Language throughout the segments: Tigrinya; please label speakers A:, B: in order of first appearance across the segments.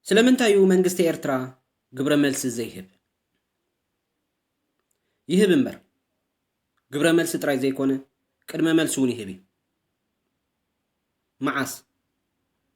A: ስለምንታይ እዩ መንግስቲ ኤርትራ ግብረ መልሲ ዘይህብ? ይህብ እምበር ግብረ መልሲ ጥራይ ዘይኮነ ቅድመ መልሲ እውን ይህብ እዩ። መዓስ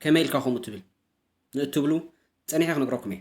A: ከመይ ኢልካ ከምኡ ትብል ንእትብሉ ጸኒሐ ክነግረኩም እየ።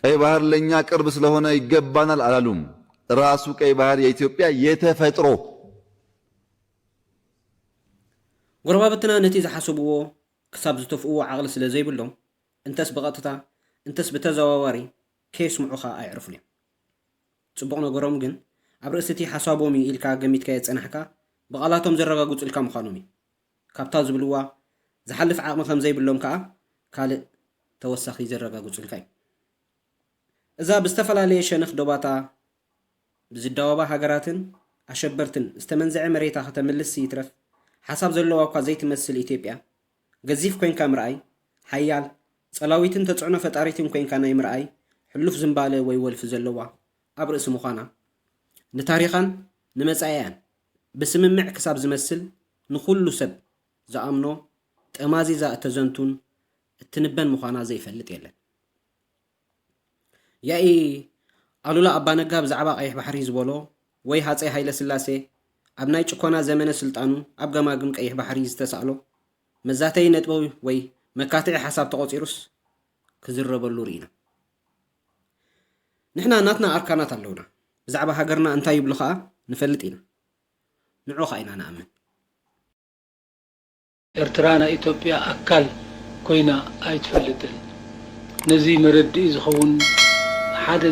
B: ቀይ ባህር ለኛ ቅርብ ስለሆነ ይገባናል አላሉም። ራሱ ቀይ ባህር የኢትዮጵያ የተፈጥሮ
A: ጎረባብትና ነቲ ዝሓሰብዎ ክሳብ ዝተፍእዎ ዓቕሊ ስለ ዘይብሎም እንተስ ብቐጥታ እንተስ ብተዘዋዋሪ ከየስምዑኻ ኣይዕርፉን እዮም። ጽቡቕ ነገሮም ግን ኣብ ርእሲ'ቲ ሓሳቦም እዩ ኢልካ ገሚትካዮ ዝጸናሕካ ብቓላቶም ዘረጋግጹልካ ምዃኖም እዩ። ካብታ ዝብልዋ ዝሓልፍ ዓቕሚ ከም ዘይብሎም ከኣ ካልእ ተወሳኺ ዘረጋግጹልካ እዩ። እዛ ብዝተፈላለየ ሸነኽ ዶባታ ብዝዳወባ ሃገራትን ኣሸበርትን ዝተመንዘዐ መሬታ ከተምልስ ይትረፍ ሓሳብ ዘለዋ እኳ ዘይትመስል ኢትዮጵያ ገዚፍ ኮይንካ ምርኣይ ሓያል ጸላዊትን ተጽዕኖ ፈጣሪትን ኮይንካ ናይ ምርኣይ ሕሉፍ ዝምባለ ወይ ወልፊ ዘለዋ ኣብ ርእሲ ምዃና ንታሪኻን ንመጻኢኣን ብስምምዕ ክሳብ ዝመስል ንኹሉ ሰብ ዝኣምኖ ጠማዚዛ እተዘንቱን እትንበን ምዃና ዘይፈልጥ የለን። ያኢ ኣሉላ ኣባ ነጋ ብዛዕባ ቀይሕ ባሕሪ ዝበሎ ወይ ሃጸይ ሃይለስላሴ ኣብ ናይ ጭኮና ዘመነ ስልጣኑ ኣብ ገማግም ቀይሕ ባሕሪ ዝተሳእሎ መዛተዪ ነጥቢ ወይ መካትዒ ሓሳብ ተቖጺሩስ ክዝረበሉ ርኢና። ንሕና ናትና ኣርካናት ኣለውና። ብዛዕባ ሃገርና እንታይ ይብሉ ከኣ ንፈልጥ ኢና። ንዑ ከኣ ኢና ንኣምን።
C: ኤርትራ ናይ ኢትዮጵያ ኣካል ኮይና ኣይትፈልጥን። ነዚ መረድኢ ዝኸውን ሓደ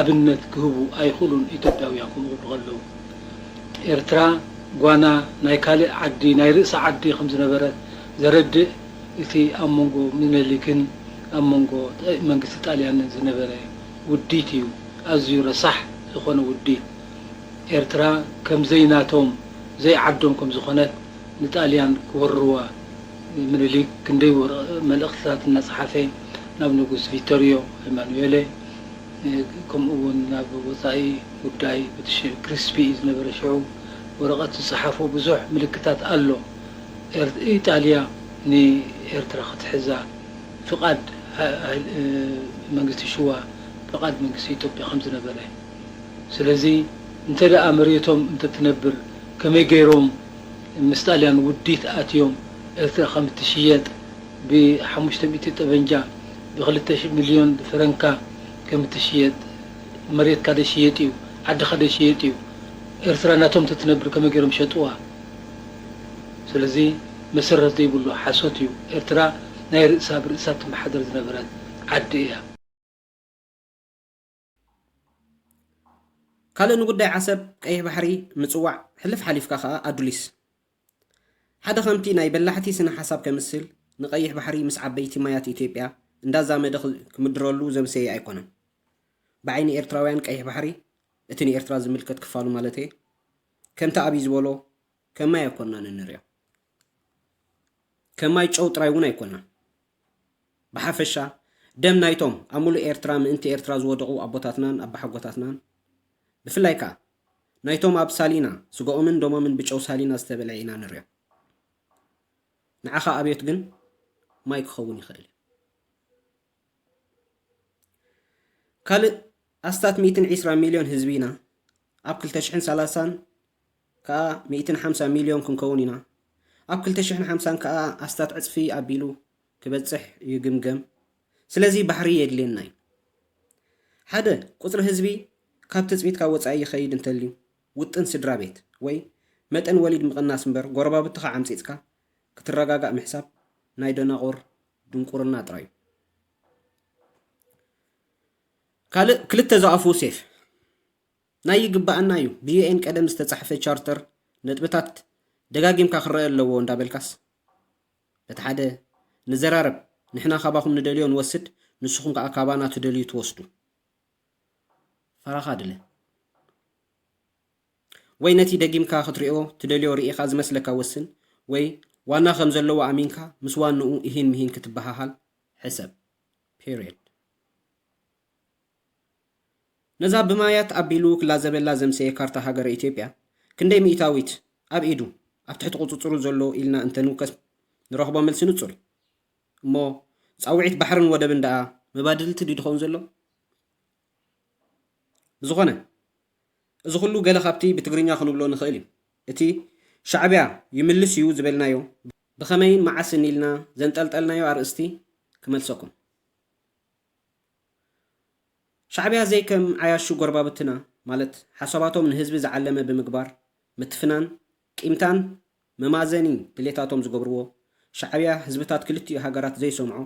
C: ኣብነት ክህቡ ኣይኽእሉን ኢትዮጵያውያን ክብሉ ከለዉ። ኤርትራ ጓና ናይ ካልእ ዓዲ ናይ ርእሳ ዓዲ ከም ዝነበረት ዘረድእ እቲ ኣብ መንጎ ሚነሊክን ኣብ መንጎ መንግስቲ ጣልያንን ዝነበረ ውዲት እዩ። ኣዝዩ ረሳሕ ዝኾነ ውዲት። ኤርትራ ከም ዘይናቶም ዘይዓዶም ከም ዝኾነት ንጣልያን ክወርርዋ ምኒሊክ ክንደይ መልእኽትታት እናጸሓፈ ናብ ንጉስ ቪቶርዮ ኤማኑኤለ ከምኡ'ውን ናብ ወጻኢ ጉዳይ ብሪትሽ ክሪስፒ እዩ ዝነበረ ሽዑ ወረቐት ዝጸሓፎ ብዙሕ ምልክታት ኣሎ ኢጣልያ ንኤርትራ ክትሕዛ ፍቓድ መንግስቲ ሽዋ ፍቓድ መንግስቲ ኢትዮጵያ ከም ዝነበረ። ስለዚ እንተ ደኣ መሬቶም እንተ ትነብር ከመይ ገይሮም ምስ ጣልያን ውዲት ኣትዮም ኤርትራ ከም እትሽየጥ ብ ሓሙሽተ ሚእቲ ጠበንጃ ብ ክልተ ሽሕ ሚልዮን ፈረንካ ከም እትሽየጥ መሬትካ ዶ ይሽየጥ እዩ ዓድኻ ዶ ይሽየጥ እዩ ኤርትራ ናቶም እንተ ትነብር ከመይ ገይሮም ሸጥዋ ስለዚ መሰረት ዘይብሉ ሓሶት እዩ ኤርትራ ናይ ርእሳ ብ ርእሳ እትመሓደር ዝነበረት ዓዲ እያ።
A: ካልእ ንጉዳይ ዓሰብ፣ ቀይሕ ባሕሪ፣ ምጽዋዕ፣ ሕልፍ ሓሊፍካ ከኣ ኣዱሊስ። ሓደ ከምቲ ናይ በላሕቲ ስነ ሓሳብ ከምስል ንቀይሕ ባሕሪ ምስ ዓበይቲ ማያት ኢትዮጵያ እንዳዛመደ ክምድረሉ ዘምሰየ ኣይኮነን። ብዓይኒ ኤርትራውያን ቀይሕ ባሕሪ፣ እቲ ንኤርትራ ዝምልከት ክፋሉ ማለተየ፣ ከምቲ ኣብይ ዝበሎ ከም ማይ ኣይኮናን እንሪኦ። ከም ማይ ጨው ጥራይ እውን ኣይኮናን። ብሓፈሻ ደም ናይቶም ኣብ ሙሉእ ኤርትራ ምእንቲ ኤርትራ ዝወደቑ ኣቦታትናን ኣባሓጎታትናን ብፍላይ ከኣ ናይቶም ኣብ ሳሊና ስጋኦምን ደሞምን ብጨው ሳሊና ዝተበልዐ ኢና ንሪኦ። ንዓኻ ኣብዮት ግን ማይ ክኸውን ይኽእል እዩ። ካልእ ኣስታት ሚእትን ዒስራን ሚልዮን ህዝቢ ኢና። ኣብ ክልተ ሽሕን ሰላሳን ከኣ ሚእትን ሓምሳን ሚልዮን ክንከውን ኢና። ኣብ ክልተ ሽሕን ሓምሳን ከኣ ኣስታት ዕጽፊ ኣቢሉ ክበጽሕ ይግምገም። ስለዚ ባሕሪ የድልየና እዩ። ሓደ፣ ቁጽሪ ህዝቢ ካብ ትጽቢትካ ወጻኢ ይኸይድ እንተልዩ፣ ውጥን ስድራ ቤት ወይ መጠን ወሊድ ምቕናስ እምበር ጎረባብትኻ ዓምጺጽካ ክትረጋጋእ ምሕሳብ ናይ ደናቑር ድንቁርና ጥራይ እዩ። ካልእ ክልተ ዝኣፍኡ ሴፍ ናይ ይግባኣና እዩ ብዩኤን ቀደም ዝተጻሕፈ ቻርተር ነጥብታት ደጋጊምካ ክረአ ኣለዎ እንዳበልካስ በቲ ሓደ ንዘራረብ ንሕና ካባኹም ንደልዮ ንወስድ ንስኹም ከዓ ካባና ትደልዩ ትወስዱ ፈራኻ ድለ ወይ ነቲ ደጊምካ ክትሪኦ ትደልዮ ርኢኻ ዝመስለካ ወስን ወይ ዋና ከም ዘለዎ ኣሚንካ ምስ ዋንኡ ኢሂን ምሂን ክትበሃሃል ሕሰብ። Period። ነዛ ብማያት ኣቢሉ ክላዘበላ ዘምሰየ ካርታ ሃገረ ኢትዮጵያ ክንደይ ሚኢታዊት ኣብ ኢዱ፣ ኣብ ትሕቲ ቁጽጽሩ ዘሎ ኢልና እንተ ንውከስ ንረኽቦ መልሲ ንጹር እዩ። እሞ ጻውዒት ባሕርን ወደብን ደኣ መባድልቲ ድዩ ድኸውን ዘሎ? ብዝኾነ እዚ ኩሉ ገለ ካብቲ ብትግርኛ ክንብሎ ንኽእል እዩ። እቲ ሻዕቢያ ይምልስ እዩ ዝበልናዮ ብኸመይን መዓስን ኢልና ዘንጠልጠልናዮ ኣርእስቲ ክመልሰኩም። ሻዕቢያ ዘይከም ዓያሹ ጎረባብትና ማለት ሓሳባቶም ንህዝቢ ዝዓለመ ብምግባር ምትፍናን ቂምታን መማዘኒ ድሌታቶም ዝገብርዎ ሻዕቢያ ህዝብታት ክልቲኡ ሃገራት ዘይሰምዖ፣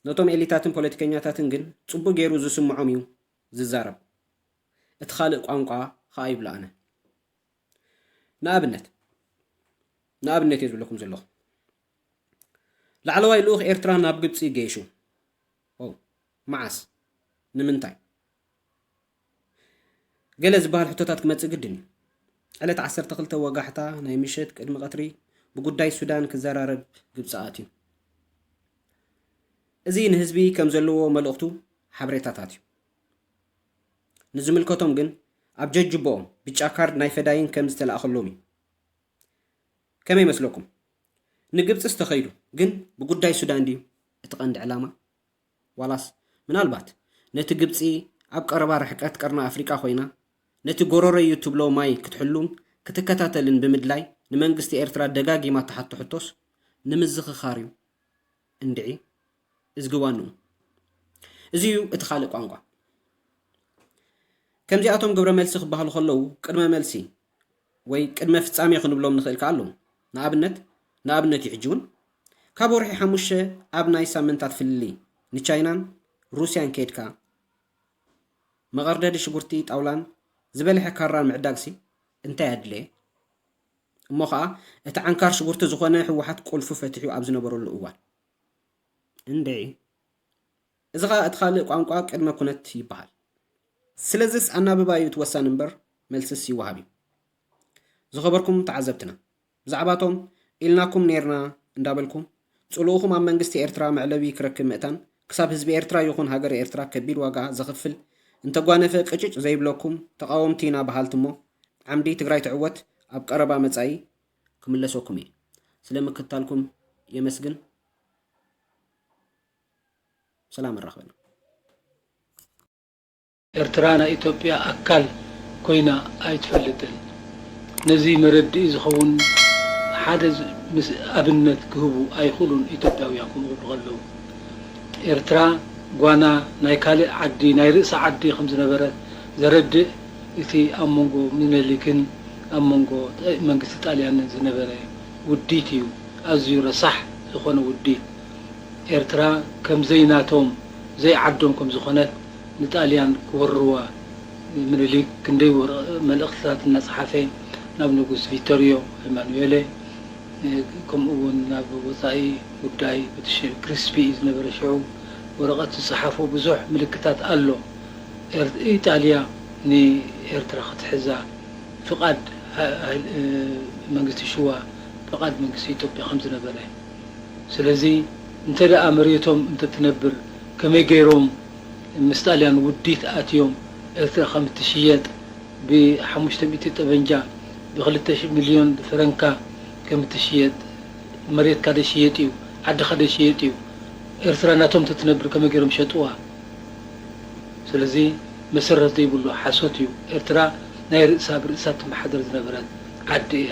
A: ነቶም ኤሊታትን ፖለቲከኛታትን ግን ጽቡቕ ገይሩ ዝስምዖም እዩ ዝዛረብ እቲ ካልእ ቋንቋ ኸኣ ይብሎ ኣነ ንኣብነት ንኣብነት እየ ዝብለኩም ዘለኹ ላዕለዋይ ልኡኽ ኤርትራ ናብ ግብጺ ገይሹ ኦው መዓስ ንምንታይ ገለ ዝበሃል ሕቶታት ክመጽእ ግድን እዩ። ዕለት ዓሰርተ ክልተ ወጋሕታ ናይ ምሸት ቅድሚ ቀትሪ ብጉዳይ ሱዳን ክዘራረብ ግብጺ ኣትዩ። እዚ ንህዝቢ ከም ዘለዎ መልእኽቱ ሓበሬታታት እዩ። ንዝምልከቶም ግን ኣብ ጀጅቦኦም ብጫ ካርድ ናይ ፈዳይን ከም ዝተላእከሎም እዩ። ከመይ መስለኩም? ንግብጺስ ተኸይዱ ግን ብጉዳይ ሱዳን ድዩ እቲ ቀንዲ ዕላማ? ዋላስ ምናልባት ነቲ ግብጺ ኣብ ቀረባ ርሕቀት ቀርኒ ኣፍሪቃ ኮይና ነቲ ጎረሮይ'ዩ እትብሎ ማይ ክትሕሉን ክትከታተልን ብምድላይ ንመንግስቲ ኤርትራ ደጋጊማ እትሓቶ ሕቶስ ንምዝኽኻር'ዩ እንድዒ እዝጊ ዋንኡ እዚ'ዩ እቲ ካልእ ቋንቋ ከምዚኣቶም ግብረ መልሲ ክበሃሉ ከለዉ ቅድመ መልሲ ወይ ቅድመ ፍጻሜ ክንብሎም ንኽእል ከኣ ኣሎዉ። ንኣብነት ንኣብነት እዩ ሕጂ እውን ካብ ወርሒ ሓሙሽተ ኣብ ናይ ሳምንታት ፍልልይ ንቻይናን ሩስያን ከይድካ መቐርደዲ ሽጉርቲ ጣውላን ዝበልሐ ካራን ምዕዳግሲ እንታይ ኣድለየ? እሞ ከኣ እቲ ዓንካር ሽጉርቲ ዝኾነ ህወሓት ቁልፉ ፈቲሑ ኣብ ዝነበረሉ እዋን። እንድዒ! እዚ ኸኣ እቲ ካልእ ቋንቋ ቅድመ ኩነት ይበሃል። ስለዝስ ኣናብባ እዩ እቲ ወሳኒ እምበር መልስስ ይወሃብ እዩ። ዝኸበርኩም ተዓዘብትና ብዛዕባ እቶም ኢልናኩም ኔርና እንዳበልኩም ጽልኡኹም ኣብ መንግስቲ ኤርትራ መዕለቢ ክረክብ ምእታን ክሳብ ህዝቢ ኤርትራ ይኹን ሃገረ ኤርትራ ከቢድ ዋጋ ዘኽፍል እንተጓነፈ ቅጭጭ ዘይብለኩም ተቓወምቲ ኢና በሃልቲ እሞ ዓምዲ ትግራይ ትዕወት ኣብ ቀረባ መጻኢ ክምለሰኩም እየ። ስለ ምክትታልኩም የመስግን። ሰላም ኣራክበና።
C: ኤርትራ ናይ ኢትዮጵያ ኣካል ኮይና ኣይትፈልጥን። ነዚ መረድኢ ዝኸውን ሓደ ኣብነት ክህቡ ኣይኽእሉን ኢትዮጵያውያን ከምኡ ክብሉ ከለዉ። ኤርትራ ጓና ናይ ካልእ ዓዲ ናይ ርእሳ ዓዲ ከም ዝነበረት ዘረድእ እቲ ኣብ መንጎ ሚነሊክን ኣብ መንጎ መንግስቲ ጣልያንን ዝነበረ ውዲት እዩ። ኣዝዩ ረሳሕ ዝኾነ ውዲት። ኤርትራ ከም ዘይናቶም ዘይዓዶም ከም ዝኾነት ንጣልያን ክወርርዋ ምኒሊክ ክንደይ መልእኽትታት እናጸሓፈ ናብ ንጉስ ቪቶርዮ ኤማኑኤለ ከምኡ ውን ናብ ወጻኢ ጉዳይ ብትሽል ክሪስፒ ኢዩ ዝነበረ ሽዑ ወረቐት ዝጸሓፎ ብዙሕ ምልክታት ኣሎ ኢጣልያ ንኤርትራ ክትሕዛ ፍቓድ መንግስቲ ሽዋ ፍቓድ መንግስቲ ኢትዮጵያ ከም ዝነበረ ስለዚ እንተ ደኣ መሬቶም እንተ ትነብር ከመይ ገይሮም ምስ ጣልያን ውዲት ኣትዮም ኤርትራ ከም እትሽየጥ ብ ሓሙሽተ ሚእቲ ጠበንጃ ብ ክልተ ሽሕ ሚልዮን ፈረንካ ከም እትሽየጥ መሬትካ ዶ ይሽየጥ እዩ ዓድኻ ዶ ይሽየጥ እዩ ኤርትራ ናቶም እንተ ትነብር ከመይ ገይሮም ሸጥዋ ስለዚ መሰረት ዘይብሉ ሓሶት እዩ ኤርትራ ናይ ርእሳ ብ ርእሳ እትመሓደር ዝነበረት ዓዲ እያ።